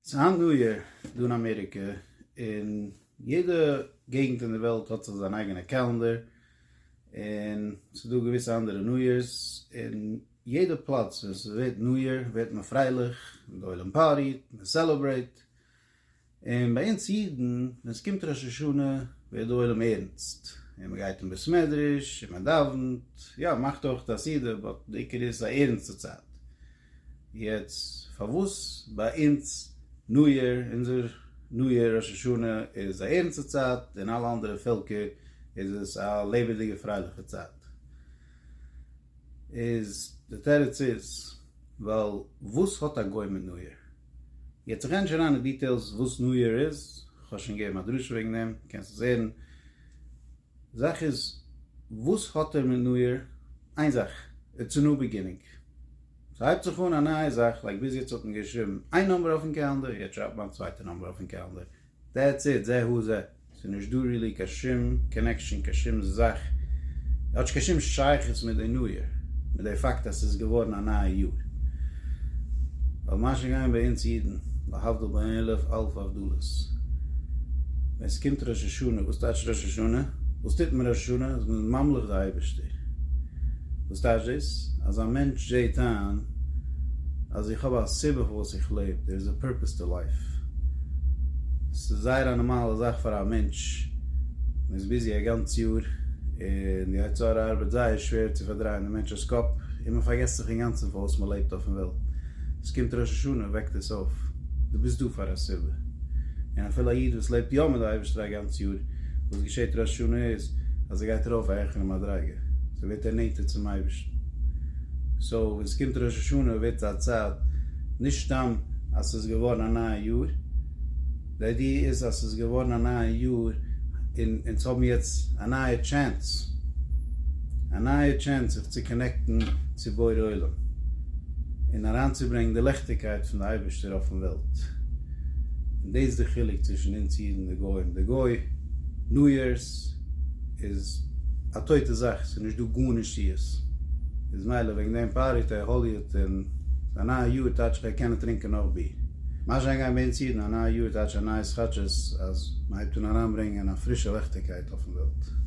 ס'היינט ניו יער דא אין אמעריקע, און יעדע געגנט אין די וועלט האט זיך זיין אייגענע קעלענדער, און ס'איז דא געוויסע אנדערע ניו יערס, און יעדע פלאץ ווען ס'ווערט ניו יער ווערט מען פרייליך, די עולם פארטי'ט, מען סעלעברעיט, און ביי אונז אידן ווען ס'קומט ראש השנה ווערט די עולם ערנסט, און מען גייט אין בית מדרש און מען דאווענט, יא, מען מאכט אויך א סעודה, באט די עיקר איז א ערנסטע צייט. יעצט פארוואס ביי אונז ניו יער, אונזער ניו יער ראש השנה איז א ערנסטע צייט און אלע אנדערע פעלקער איז עס א לעבעדיגע פרייליכע צייט? איז די תירוץ איז ווייל וואס האט א גוי מיט ניו יער? יעצט איך גיי נישט אריין אין דיטעילס וואס ניו יער איז, כ'האב שוין געגעבן א דרשה וועגן דעם, קענסט עס הערן. זאך איז וואס האט ער מיט נוער? איין זאך, איטס א ניו ביגינינג. ס'הייבט זיך אן א נייע זאך, לייק ביז יעצט האט מען געשריבן איין נומבער אויפן קעלענדער, יעצט שרייבט מען א צווייטע נומבער אויפן קעלענדער. דעטס איט, זה הוא זה. ס'איז נישט דא רילי קיין שום קאנעקשאן, קיין שום זאך, כאטש קיין שום שייכות מיט די נוער, מיט די פאקט אז ס'איז געווארן א נייע יאר. ווייל מה שגעיין ביי אונז אידן, להבדיל ביי עלף אלף הבדלות, ווען ס'קומט ראש השנה, וואס טייטש ראש השנה? וואס טוט מען ראש השנה? אז מ'איז ממליך די אייבערשטער. וואס טייטש דאס? אז א מענטש זעהט איין אז איך האב א סיבה פארוואס איך לעב, דער איז א פורפעס טו לייף. ס'איז זייער א נארמאלע זאך פאר א מענטש, מ'איז ביזי א גאנץ יאר, און די יצר הרע ארבעט זייער שווער צו פארדרייען די מענטש'ס קאפ, און מען פארגעסט זיך אינגאנצן פארוואס מען לעבט אויפן וועלט, עס קומט ראש השנה און וועקט אונז אויף, דו ביסט דא פאר א סיבה, און אפילו א איד וואס לעבט יא מיט די אייבערשטער א גאנץ יאר, וואס געשעט ראש השנה איז אז ער גייט ארויף א העכערע מדריגה, אזוי ווערט ער נענטער צום אייבערשטן, סאו ווען עס קומט ראש השנה ווערט עס א צייט נישט סתם אז עס איז געווארן א נייע יאר, די איידיע איז אז ס'איז געווארן א נייע יאר און אונז האבן יעצט א נייע טשענס, א נייע טשענס זיך צו קאנעקטן צו בורא עולם און אריינצוברענגן די ליכטיגקייט פון די אייבערשטער אויפן וועלט, און דאס איז די חילוק צווישן אונז אידן די גוים, די גוי ניו יערס איז א טויטע זאך, ס'איז נישט דא גארנישט צו עס איז מילא וועגן דעם פארעט ער האליע. פון א נייע יאר טייטש איך ער קען נישט טרינקען נאך ביר. מה שאנגייט ביי אונז אידן א נייע יאר טייטש א נייעס כאטש עס אז מען הייבט אן אריינברענגען א פרישע לעכטיגקייט אויפן וועלט.